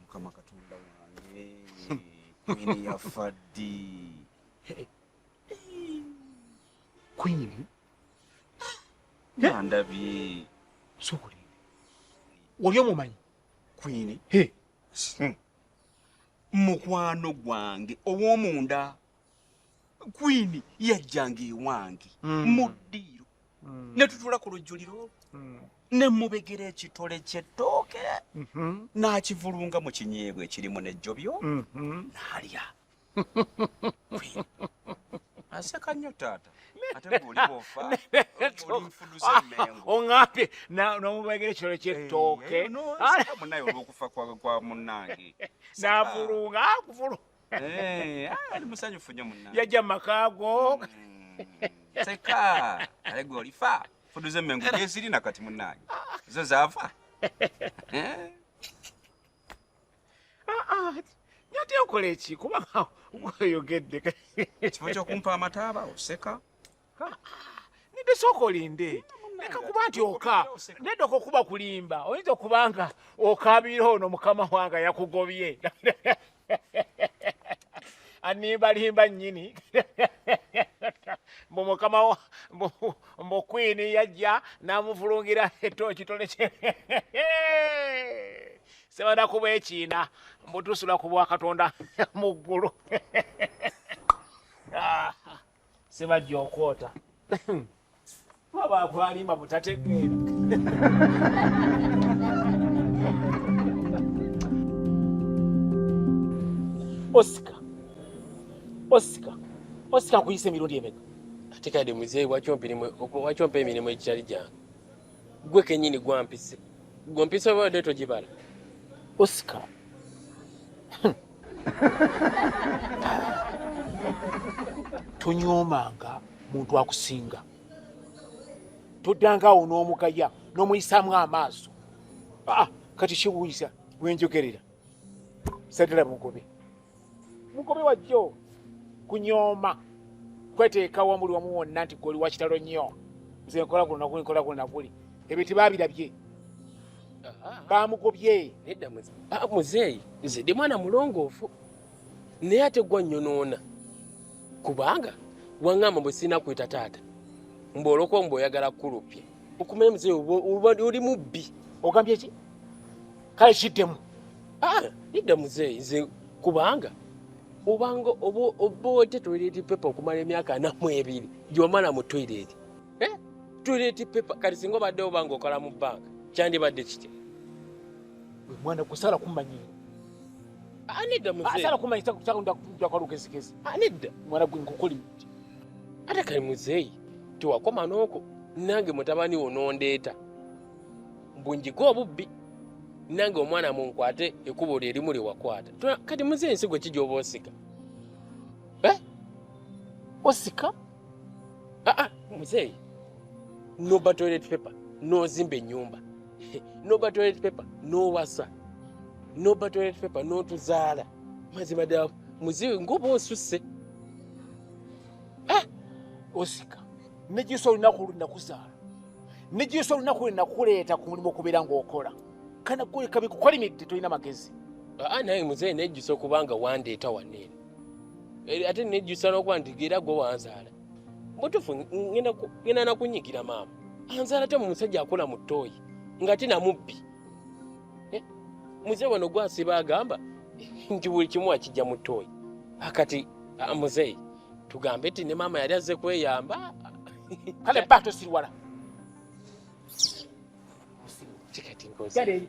mukama katonda wange kwini yafa ddi kwini andabye sokuli oli omumanyi kwini mukwano gwange ow'omunda kwini yajjanga ewange mm. mu ddiiro mm. ne tutula ku lujjuliro olwo mm. ne mubegera ekitole ky'ettooke mm-hmm. n'akivulunga mu kinyeebwa ekirimu n'ejjobyo mm-hmm. n'alya aseka nnyo taata ongambye nomubegera ekitole ky'ettooke eh, eh, munaye olwokufa kwa munange n'avulunga akuvulunga Eh, ah, ali musanyufu nnyo munna yajja makaago mm, seka naye gwe olifa fudu z'emmengo gyeziri na kati munnange zo zaafa Eh, nyate nkola eki kuba oyogedde ekifo ky'okumpa amataaba oseka nidde sooka olinde leka kuba nti oka nedda okukuba kulimba oyinza okuba nga okaabira ono mukama wanga yakugobye animbalimba nnyini mbu mukama mbu kwini yajja namuvulungira etooki toleke sebana kuba ekiina mbu tusula ku bwakatonda mu ggulu ah. sebajja okwota baba akwalimba butategeera osika osika osika nkuyisa emirundi emeka ate kade muzee wakyompa emirimu egitali gyange gwe kenyini gwampise gwe mpisa obadde togibala osika tonyoomanga muntu akusinga toddanga awo n'omugaya n'omuyisaamu amaaso aa ah, kati kiwuyiza wenjogerera sadala mugobe mugobe wajjo kunyooma kweteekawo muli wamu wonna nti goli wakitalo nnyo nze nkola guno naguli nkola guno naguli ebyo tebabirabye bamugobye ah, muzeeyi nze ndi mwana mulongoofu naye ate gwa nyonoona kubanga waŋŋamba bwe sirina kweta taata mboloko mbu oyagala kukulupya okumanya muzeeyi oli mubbi ogambye ki kale kiddemu ah, idda muzeeyi nze kubanga obanga oba oba ote toilet paper okumala emyaka namwe ebiri gyomala mu toilet eh? toilet paper kati singa obadde obanga okola mu banka kyandibadde kitya mwana kusala kumanyira anedda muzeasala kumanyisa kusakundakwalugezigezi anedda mwana gwe nkukuli muti ate kali muzeeyi tewakoma nooko nange mutabani wo nondeeta mbunjige obubbi nange omwana munkwate ekubo lye limu lye wakwata kati muzeeyi nsi gwe kijooba osika eh? osika Ah, ah, muzeeyi noba toilet paper nozimba enyumba noba toilet paper nowasa noba toilet paper notuzaala mazima ddala muzeeyi ngoba osusse ah! osika nejisa olunaku lunakuzaala nejisa olunaku lwenakuleeta ku mulimu okubeera ngaokola kana kukabikukolimidde tolina magezi naye muzeeyi nejisa okubanga wandeeta waneeno ate nejjusa nokuba nti era gwe wanzaala mutufu ngenda nakunyigira maama anzaala te mumusajja akola mu ttooyi nga te namubbi eh, muze wano gwasiba agamba nti buli kimu akijja mu ttooyi akati ah, muzeeyi tugambe ti ne maama yali azze kweyamba kale ba tosirwala kikati nkozi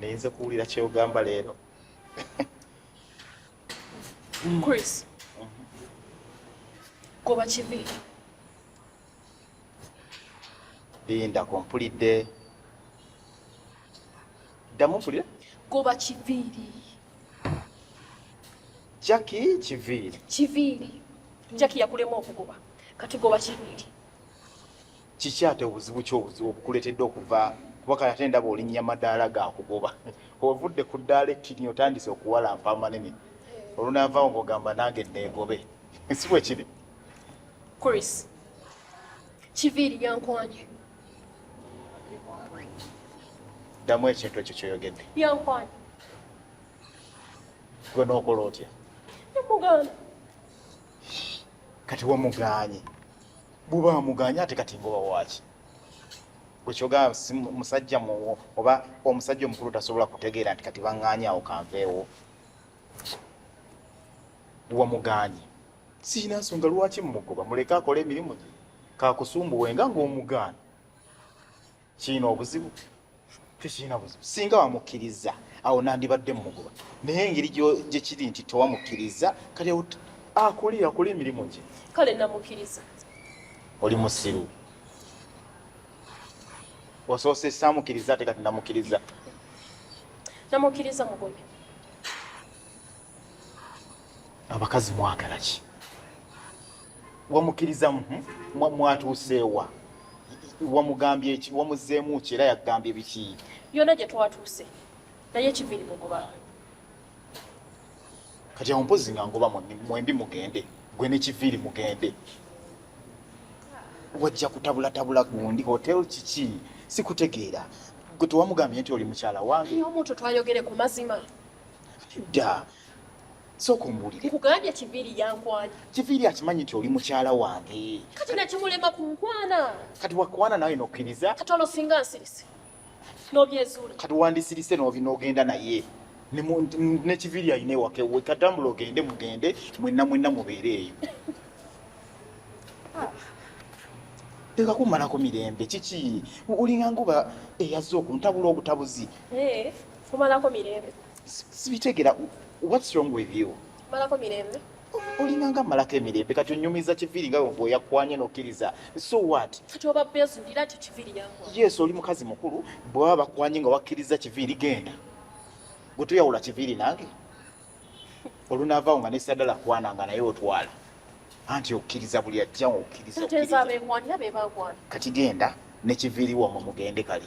naye nze kuwulira kyeyogamba leero chris goba kibi linda kompulidde ddamu mpulire goba kiviiri jaki kiviiri kiviiri jaki yakulema okugoba kati goba kiviiri kiki ate obuzibu ki obuzibu obukuleetedde okuva kuba kati ate ndaba olinnya madaala gakugoba ovudde ku ddaala ekkirni otandise okuwalampa amanene olunaavaawo ngaogamba nange neegobe si bwe kiri chris kiviiri yankwanye ddamu ekintu ekyo kyoyogedde yankwanye gwe n'okola otya kati wamugaanye buba muganya ate kati ngoba waki bwekyogaa musajja muwo oba omusajja omukulu tasobola kutegeera nti kati banganya awo kanveewo wamuganye sirina nsonga lwaki mumugoba muleke akole emirimu gye kakusumbuwenga ngaomugaana kirina obuzibu tekirina buzibu singa wamukkiriza awo nandibadde mumugoba naye engeri gye kiri nti tewamukkiriza kale akole akole emirimu gye kale namukkiriza oli musiru osoose samukkiriza ate kati namukkiriza namukkiriza mugobe abakazi mwagala ki wamukiriza mwatuuseewa wamugambye eki wamuzeemu ki era yakugambye biki yona gye twatuuse naye kiviri mugoba kati awo mpozi nga ngoba mwembi mugende gwe nekiviiri mugende wajja kutabulatabula gundi hotel kiki sikutegeera gwe tewamugambye nti oli mukyala wange omuntu twayogere ku mazima da sooka ombuulire nkugambye kiviiri yankwana kiviiri akimanyi nti oli mukyala wange kati nakimulema ku nkwana kati wakwana nawe nokkiriza kati olwo singa nsirise nobyezuula kati wandisirise nogenda naye nekiviiri alina ewaka ewe katambula ogende mugende mwenna mwenna mubeere eyo teka kumalako mirembe kiki olinganga oba eyazze okuntabula obutabuzi eh, kumalako mirembe sibitegera what's wrong with you malako mirembe olinganga malako emirembe kati onyumiza kiviri nga bweyakwanye nokiriza so what yes oli mukazi mukulu bwaba bakwanye nga wakiriza kiviri genda gwetuyawula kiviri nange olunavaawo nga nesadala kwana nga naye otwala anti okiriza buli ajja okiriza kati genda nekiviriwo mumugende kali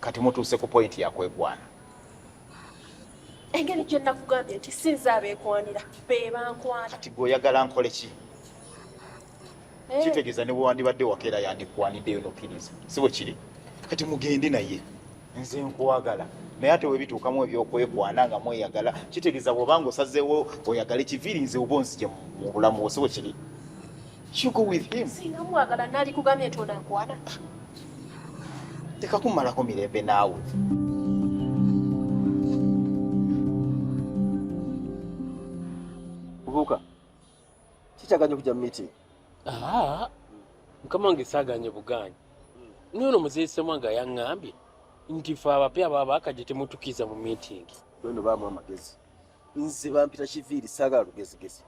kati mutuuse ku pointi yakwekwana engeri gye nakugambye nti sinza abeekwanira be bankwana kati gwe oyagala nkole ki eh. kitegeeza ne bwewandibadde wakeera yandikwaniddeyo nokkiriza si bwe kiri kati mugende naye nze nkwagala naye ate webituukamu ebyokwekwana nga mweyagala kitegeeza bwobanga osazeewo oyagala ekiviiri nze oba onzije mu bulamu wo si bwe kiri You go with him. Singa mwagala nali kugamye ntona nkwana. Teka kumala ko mirembe nawe. Kubuka. Chicha ganyo kuja meeting. Ah. Mkama wange saganye buganye. Nono mzee sema nga yangambye nti fa abapya baba akaje temutukiza mu meeting. Nono ba mwa magezi. Nze bampita kiviri saga lugezi gezi.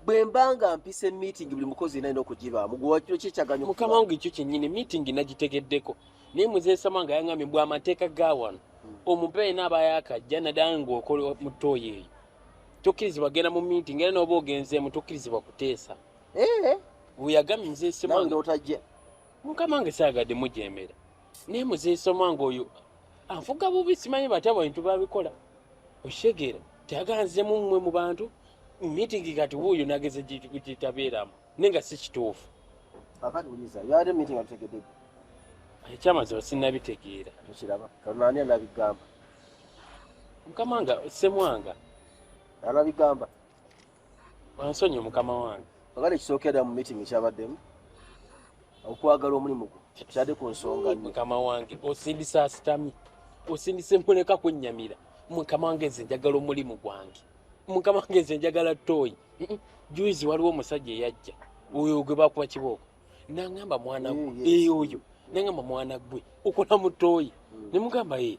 bwe mba nga mpise meeting buli mukozi yena alina okugibaamu gwewakiro kyekyaganya mukama wange ekyo kyennyini meeting nagitegeddeko naye muzeesama nga yangambye mbw amateeka ga wano hmm. omupe yena aba yakajja naddala ngaokola mu tooyi eyo tokkirizibwa genda mu meeting era nooba ogenzeemu tokkirizibwa kuteesa eh? weyagambye muzeesama otajja mukama wange saagadde mujemera naye muzesoma nga oyo anfuga bubi simanyi batya bwentu babikola okitegeera teyaganzemu mmwe mu bantu mitingi kati wuuyo nageza gyetabeeramu naye nga si kituufu ekyamazima sinabitegeera mukama nga semwanga anabigamba Wansonyi mukama wange. Kakati ekisookedda mu meeting ekyabaddemu okwagala omulimu gwo kyade ku nsonga nnyo. Mukama wange osindisa asitami osindisa empoleka kwennyamira mukama wange nze njagala omulimu gwange mukama wange nze njagala tooyi juizi waliwo omusajja eyajja oyo gwe bakuba kibooko nangamba mwana gwe eyo oyo nangamba mwana gwe okola mu tooyi mm. ne mugamba ee eh,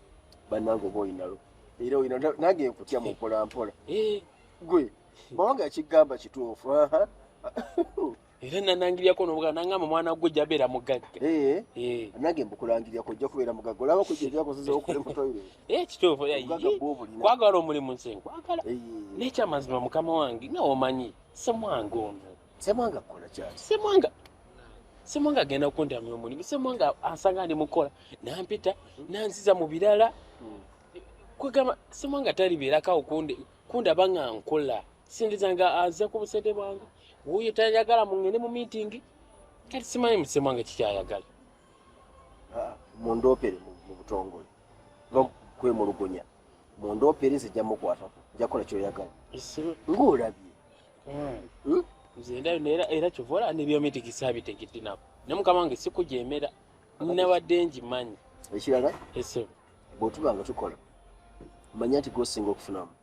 banange oba oyinalo era oyina nange nkutya mukola mpola eh. gwe mawanga yakigamba kituufu era nanangiryako nobuga nangamba omwana gwe jabeera mugagga eh. eh. nange mbukulangiryako ojja kubeera mugagga olaba kujjajakozeza okole mutoire kituufu kwagala omulimu nse nkwagala nekyamazima mukama wange nga omanyi semwange ono semwanga kukola kyaki semwanga semwanga agenda kundamya omulimu semwanga asanga ndi mukola nampita nanziza mu birala hmm. kwegamba semwanga talibeerakawo kundaba nga nkola sindiza nga aze ku busente bwange wuyo tayagala mungende mu miitingi kati simanyi musemwanga kikyayagala ah, mundopere mu butongole kwemulugunya mundopere nze jja mukwatako njakola kyoyagala ngaolabye hmm? era kyova olaba nebyomitikisa bitegedde nabo ne mukama wange sikujemera nabadde ngimanyi ekirala esebo bwetuba nga tukola manya nti gwosinga okufunamu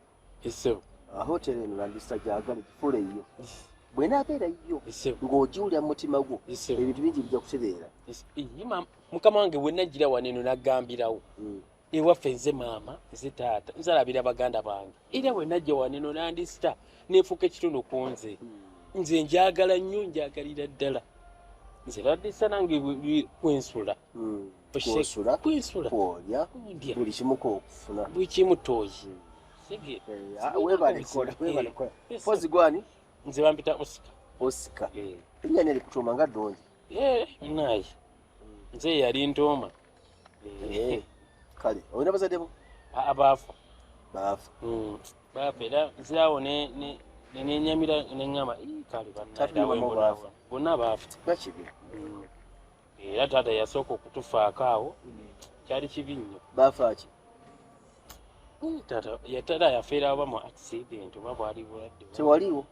esebo ahotel eno landista gyagala gifuula eyo bwena abeera yo ng'ogiwulira mu mutima gwo ebintu bingi bijja kutereera mukama wange bwenajjira waneno nagambirawo hmm. ewaffe nze maama nze taata nzalabira baganda bange era bwe najja waneno nandisita nefuuka ekitundu ku nze hmm. nze njagala nnyo njagalira ddala nze bandisa nange kwensula hmm. kwensula buli kimu kokufuna buli kimu toyi webalekolawebalekolapozi gwani nze bampita osika osika enyana eh. erikutuuma nga ddungi eh, naye nze yali ntooma Eh, kale olina bazadde bo Ah, baafa baafa Mm, baafa era zaawo ne- ne- ne- nenyamira neŋŋamba "Ii, kale Taata ne bannadawe mama bonna baafa." bonna baafa kiba kibi Mm. era taata yasooka okutufaako awo kyali kibi nnyo baafa ki Ii, taata yatala yafeera oba mu accident oba bwali bulwadde tewaliwo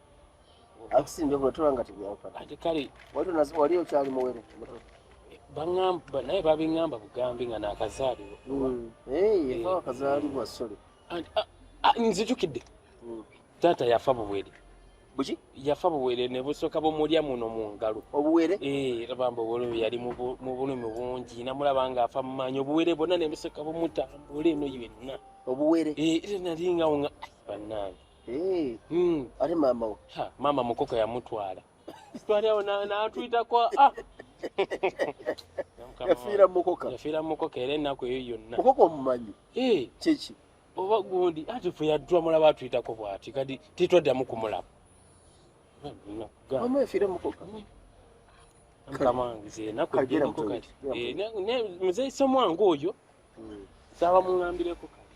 akusinja obula tola nga tebyanfana ate kale wali onazi wali okyali muwere muto bangamba naye babingamba bugambi nga nakazaalibwa mm. eh, akazaalibwa sole nzijukidde mm. taata yafa buwere buki yafa buwere ne busooka bumulya muno mu ngalo obuwere eh, labamba obuwere yali mu bulumi bungi namulaba nga afa mumaanyi obuwere bwonna ne busooka bumutambula eno yenna obuwere eh, era nali ngawo nga banange Eh, hmm. ate maama wo maama mukoko yamutwala twali awo natuyitako ah. yafiira mukoka yafiira mukoka era ennaku eyo yonna mukoka omumanyi eh. kyeki oba gundi ati fe yadula mulaba atuyitako bwati kati titwaddamu kumulaba maama yafiira mukoka hmm. mukama wange zenaku enaku eh, muzeeyi somwange oyo Sawa mungambire ko kale.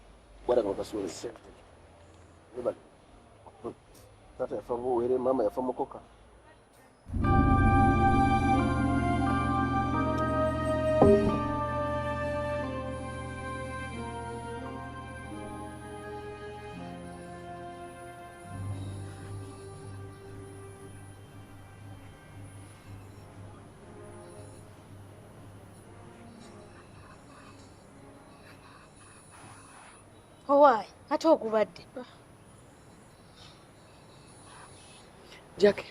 Bwada kwa kasule sente. Nobody. Tata yafa ngo were mama yafa mukoka. owaayi ate ogubadde jaki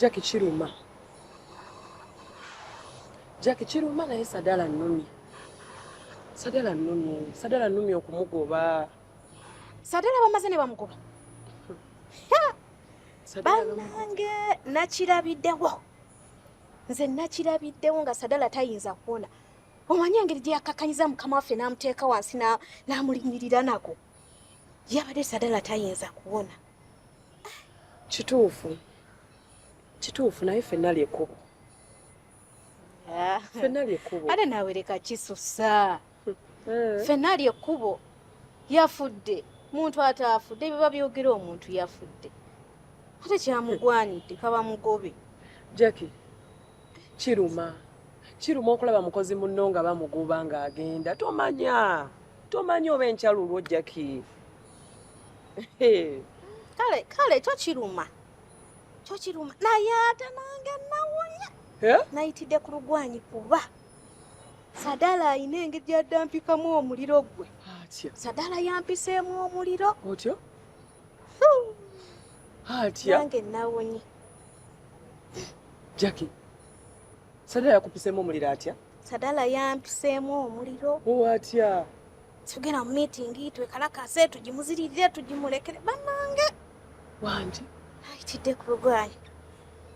jaki kiruma jaki kiruma naye sadala nnumye sadala nnumye sadala nnumye okumugoba sadala bamaze ne bamugoba banange nakirabidewo nze nakirabiddewo nga sadala tayinza kuwona omanyi engeri gye yakkakanyiza mukama waffe n'amuteeka wansi n'amulinyirira nako yabadde sadala tayinza kuwona kituufu kituufu naye fenna lyekkubo ah. fenna lyekkubo ate nawe leka kisusa eh. fenna ali ekkubo yafudde muntu ataafudde biba byogera omuntu yafudde ate kyamugwanidde kaba mugobe jacki kiruma kiruma okulaba mukozi munno nga bamugoba ng'agenda tomanya tomanya oba enkyalulwo jacki kale kale kyo kiruma kyo kiruma naye ate nange nawunya nayitidde ku lugwanyi kuba Sadala alina engeri gyaddampikamu omuliro gwe. Atya. Sadala yampiseemu omuliro. Otyo. Atya. Nange nawonye. Jackie. Sadala yakupiseemu omuliro atya? Sadala yampiseemu omuliro. Oh, atya. Tugenda mu meeting twekalakase tugimuzirire tugimulekere banange. Wangi. Ayitidde ku lugwayo.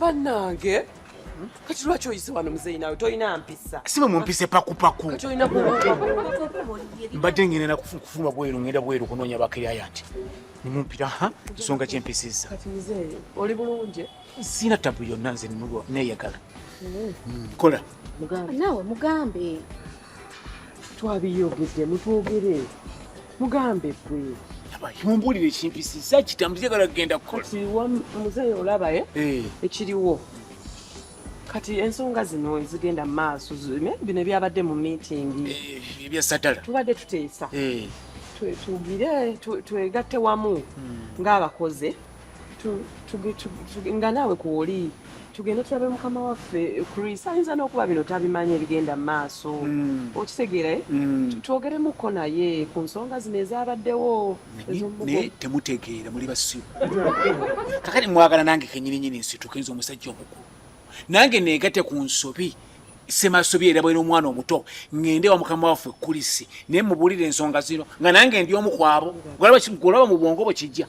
bannange kati lwaki oyise wano muzeyi nawe tolina mpisa simwe mumpise pakupaku mbadde ngenera kufuma bweru ngenda bweru kunoonya bakiriayanti nimumpira ha nsonga kyempisiza oli bulungi sina tabu yonna nze neyagala mm. kola nawe mugambe twabiyogedde mutwogere mugambe gwe mumbuulire ekimpisisa kitambo kyagala kugenda kukola muzeeyi olaba eh? Eh. ekiriwo kati ensonga zino ezigenda mu maaso bino ebyabadde mu miitingi eh, ebyasatala tubadde tuteesa tugire twegatte wamu hmm. ng'abakoze nga naawe kwoli tugende tulabe mukama waffe chris ayinza n'okuba bino tabimanyi ebigenda mu maaso mm. okitegeera eh? mm. twogeremuko naye ku nsonga zino ezabaddewo naye temutegeera muli basiru kakati mwagala nange kenyininyini nsituka nze omusajja omukulu nange negate ku nsobi semasobi era bwena omwana omuto ngende wa mukama waffe kulisi naye mubulire ensonga zino nga nange ndi omu kwabo golaba mu bwongo bwe kijja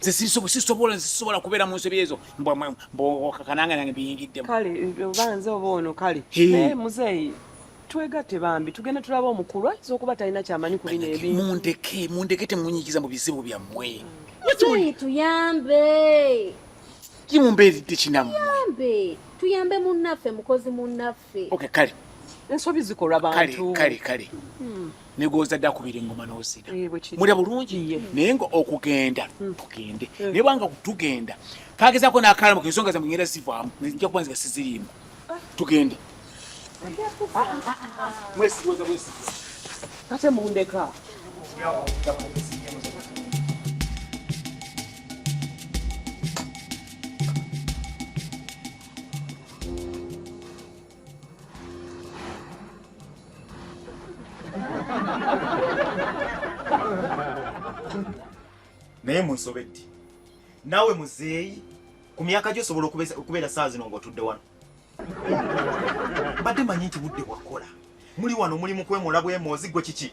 nze sisobola sisobola kubeera mu nsobi ezo mbwakananga nange biyingiddemu kale oba nze oba ono kale naye muzeeyi twegatte bambi tugende tulaba omukulu ayinza okuba talina kyamanyi ku bino ebintu mundeke mundeke temunyikiza mu bizibu byammwe muzeeyi tuyambe kimumbeeridde kinammwe tuyambe munnaffe mukozi munnaffe baffe okay kale ensobi zikolwa bantu kale kale hmm. negooza dda kubira engoma n'ozina eh, mulya bulungi naye nga okugenda hmm. tugende eh. naye bwanga tugenda kagezako n'akalamu kensonga zamwe ngenda zivaamu nja kuba nziga siziriimu ah. tugende ah, ah, mwesigoza mwesigoza kate mundeka naye munsobedde nawe muzeeyi ku myaka gyo osobola okubeera saa zino ng'otudde wano mbadde manyi nti budde bwakola muli wano muli mu kwemola bwemoozi gwe kiki